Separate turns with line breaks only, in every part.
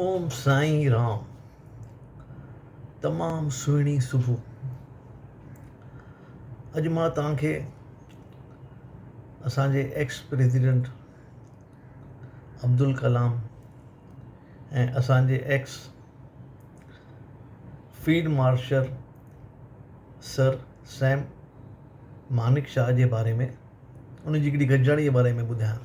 اوم سائين رام تمام سهڻي صبح اڄ مان توهان کي اسان جي ايڪس پريزيڊنٽ عبدالڪلام ۽ اسان جي ex field marshal sir Sam Manekshaw جي باري ۾ ان جي هڪڙي گڏجاڻي جي باري ۾ ٻڌايان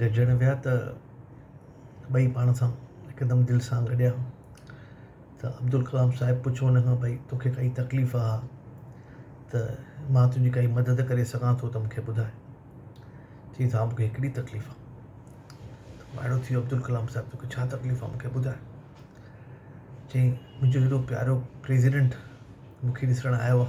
گڏجڻ ويا ته ٻئي پاڻ سان هڪدم دل سان گڏيا ته عبدالڪلام صاحب پڇيو ان کان بھي توکي ڪائي تڪليف آ ته مان تنهنجي ڪائي مدد ڪري سگهان ٿو ته مونکي ٻڌاء چيائين ته ها مونکي هڪڙي تڪليف آ ته وائڙو ٿي ويو عبدالڪلام صاحب توکي ڇا تڪليف آ مونکي ٻڌاء چيائين منهنجو هيڏو پيارو پريزيڊنٽ مونکي ڏسڻ آيو آ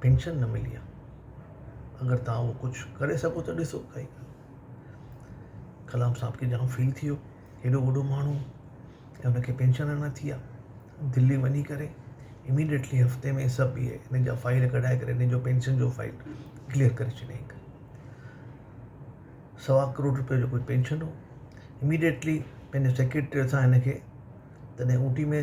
پينشن نه ملي آ اگر تھان اھو ڪجھ ڪري سگھو تھ ڏسو ڪائي ڳالھه ڪلام صاحب کي جام فيل ٿيو ھيڏو وڏو ماڻھو ۽ ان کي پينشن اڃان نٿي آ دلي وڃي ڪري اميڊيٽلي ھفتي ۾ سڀ اھي ان جا فائيل ڪڍائي ڪري ان جو پينشن جو فائيل ڪليئر ڪري ڇڏيائين سوا ڪروڙ روپيو جو ڪجھ پينشن ھو اميڊيٽلي پنھنجي سيڪريٽريء سان ھن کي تڏھن اوٽي ۾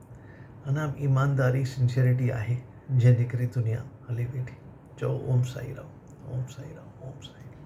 انا ايمانداري سنسيئرٽي آهي جنهن جي ڪري دنيا هلي ويٺي چئو اوم سائي رام اوم سائي رام اوم سائي رام.